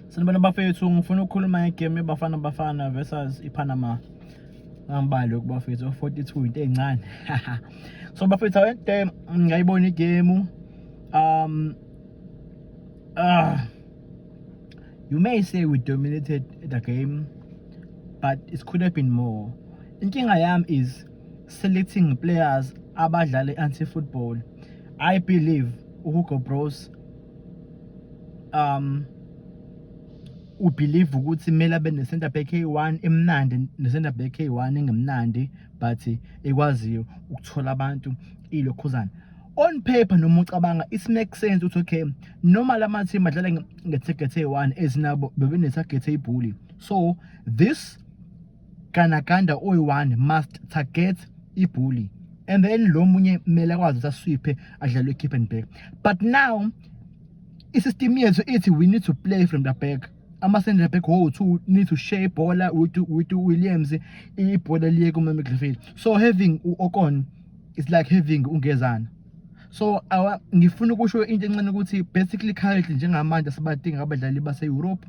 Sanibona bafethu ngifuna ukukhuluma ngegame Bafana Bafana versus iPanama ngambali kubafethu 42 into ezincane so bafethu awente ngayibona igame um uh, you may say we dominated the game but it could have been more inkinga yami is selecting players abadlale anti football i believe uHugo Bros um ubelieve ukuthi kumele abe ne-center back eyi-one emnandi ne-center back eyi-one engemnandi but ekwaziyo ukuthola abantu ilokhuzana on paper noma ucabanga it makes sense ukuthi okay noma la mathimu adlala nge-target eyi-one ezinabo bebenethagethi eyibhuli so this Ganaganda oyi-one must target ibhuli and then lo munye kumele akwazi ukuthi aswiphe adlale i-keep and back but now i-system yethu ithi we need to play from the back ama-centre back wowu-two need to share ibhola with williams ibhola liye kumamidlfield so having u-okon is like having ungezana so awa ngifuna ukusho into encane ukuthi basically currently njengamanje sibadinga abadlali base-europe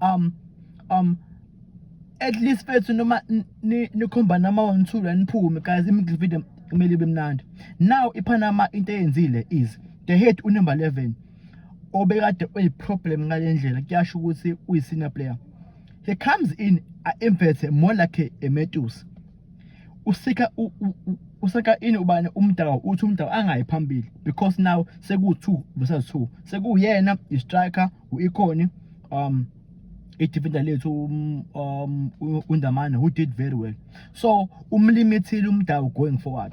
um um at least fethu noma nikhomba nama one two la niphume guys imiddle video kumele ibe mnandi now ipanama into eyenzile is the head unumber 11 obekade uyiproblem ngale ndlela kuyasho ukuthi uyi-senior player he comes in a-inverte more like a metus usika usaka ini ubani umdaka uthi umdaka angayi phambili because now seku-two versus two sekuyena i-striker Ikhona um idefender lethu um, um uNdamane who did very well so umlimithile umdawu going forward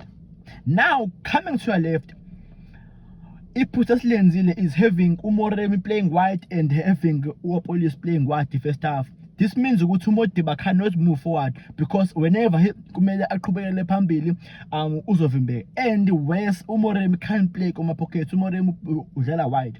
now coming to your left iphutha esilenzile is having umoremi playing wide and having uapolis playing wide first half this means ukuthi umodiba cannot move forward because whenever he kumele aqhubekele phambili um uzovimbeka and worse umoremi can't play kuma pockets umoremi udlala wide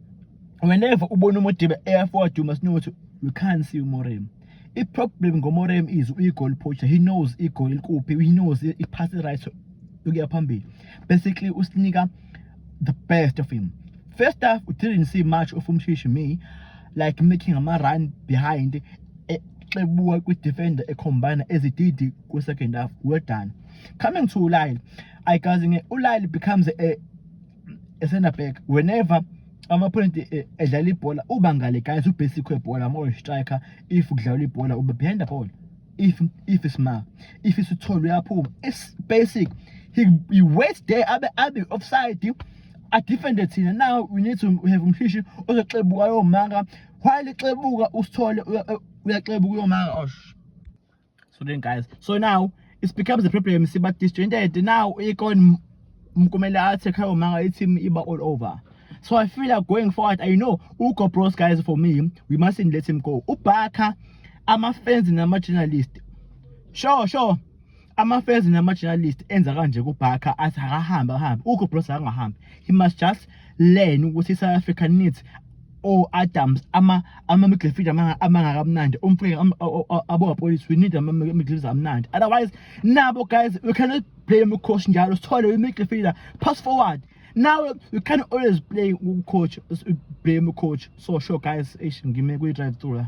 whenever ubona uModiba eya forward you must know ukuthi you can't see uMorem i-problem ngoMorem is uyi-goal poacher he knows i-goal likuphi he knows i-pass right ukuya phambili basically usinika the best of him first half we didn't see much of umshishi me like making ama run behind exebuka eh, kwi-defender ekhombana ezididi kwi-second half well done coming to ulyle ayikazi nge ulyle becomes a esena back whenever amaphonenti eh, edlala ibhola uba ngale guys ubasic webhola ama striker if kudlalwa ibhola ube behind the ball if if isma if isithole uyaphuma it's basic he, he waits there abe abe offside adefende thina now we need to have umshishi ozoxebuka yomanga while exebuka usithole uyaxebuka yomanga osh so then guys so now it becomes a problem siba disjointed now ikon mkumele athi khayo manga i-team iba all over so i feel like going forward i know ugo bros guys for me we mustn't let him go ubhakha ama-fans nama-journalist sure sure ama-fans nama-journalist enza kanje kubhakha athi akahambe akahambe ugo bros akangahambi he must just learn ukuthi i-south africa needs o-adams ama-middle feed amangakamnandi umfrika abowapolisi we need ama-middle feed amnandi otherwise nabo guys we cannot blame ucoach njalo sithole we-middle feeder pass forward now you can always play coach blame coach so sure guys ish ngime kwi-drive through la